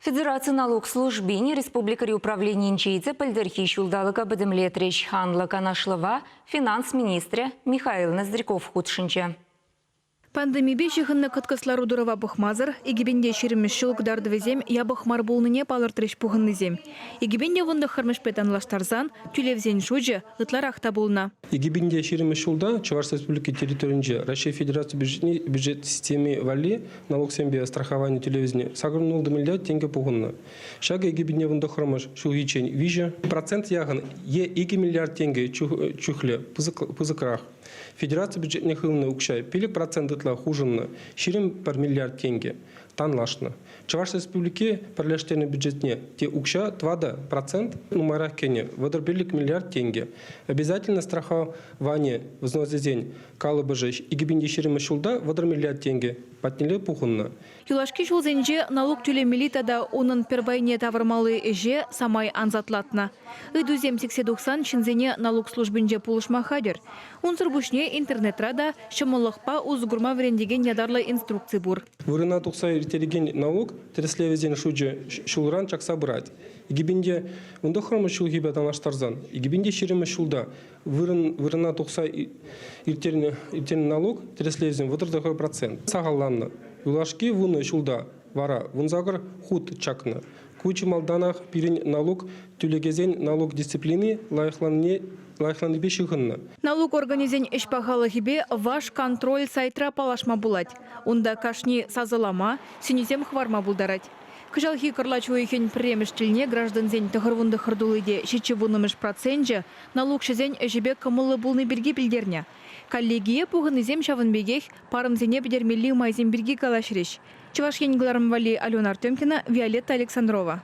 Федераци налук службин республикӑри управленийӗнче те пӗлтӗрхи ҫулталӑка пӗтӗмлетрӗҫ. Анлӑ канашлӑва финанс министрӗ Михаил Ноздряков хутшӑнчӗ. Пандемипе ҫыхӑннӑ кӑткӑс лару-тӑрӑва пӑхмасӑр икӗпенте ҫирӗммӗш ҫул кӑтартӑвӗсем япӑх мар пулнине палӑртрӗҫ пухӑннисем. Икӗпенте вунтӑххӑрмӗшпе танлаштарсан тӳлевсен шучӗ ытларах та пулнӑ. Икӗ пин те ҫирӗммӗш ҫулта Чӑваш Республики территорийӗнче Раҫҫей Федераци бюджетне бюджет системи валли налуксемпе страховани тӳлевӗсене сакӑр ноль миллиард тенкӗ пухӑннӑ. Ҫакӑ икӗ пине вун тӑххӑрмӗш ҫулхиччен виҫӗ процент яхӑн е икӗ миллиард тенкӗ чухлӗ пысӑкрах. Федераци бюджетне хывнӑ укҫа пилӗк процент ытла хушӑннӑ, ҫирӗм пӗр миллиард тенкӗ. танлашнӑ. Чӑваш Республики пӗрлештернӗ бюджетне те укҫа тӑватӑ процент нумайрах кӗнӗ, вӑтӑр пиллӗк миллиард тенкӗ. Обязательно страховани взносӗсен калӑпӑшӗ икӗ пин ҫирӗммӗш ҫулта вӑтӑр миллиард тенкӗ патнелле пухӑннӑ. Юлашки ҫулсенче налук тӳлемелли тата унӑн пӗр пайне тавӑрмалли ӗҫе самай ансатлатнӑ. Ыйтусем сиксе тухсан ҫынсене налук службинче пулӑшма хатӗр. Унсӑр пуҫне интернетра та ҫӑмӑллӑхпа усӑ курма вӗрентекен ятарлӑ инструкци пур. Вырӑна тухса ирттерекен налук тӗрӗслевӗсен шучӗ ҫулран чакса пырать. Икӗпинте вун тӑххӑрмӗш ҫулхипе танлаштарсан, икӗпинте ҫирӗммӗш ҫулта вырӑн, вырӑна тухса ирттернӗ, ирттернӗ налук тӗрӗслевӗсен вӑтӑр процент. Сахалланнӑ. Юлашки вунӑ ҫулта вара вунсакӑр хут чакнӑ. Ку чи малтанах пирӗн налук тӳлекесен налук дисциплини лайӑхланнине лайӑхланипе ҫыхӑннӑ. Налук органӗсен ӗҫ пахалӑхӗпе Ваш-контроль сайтра паллашма пулать. Унта кашни сасӑлама сӗнӳсем хӑварма пултарать. Кӑҫалхи кӑрлач уйӑхӗн пӗрремӗш тӗлне граждансен тӑхӑрвунтӑххӑр тулли те ҫиччӗ вуннӑмӗш проценчӗ налукҫӑсен ӗҫӗпе кӑмӑллӑ пулни пирки пӗлтернӗ. Коллегие пухӑннисем ҫавӑн пекех парӑмсене пӗтермелли майсем пирки калаҫрӗҫ. Чӑваш Ен кӑларӑм валли Алена Артемкина, Виолетта Александрова.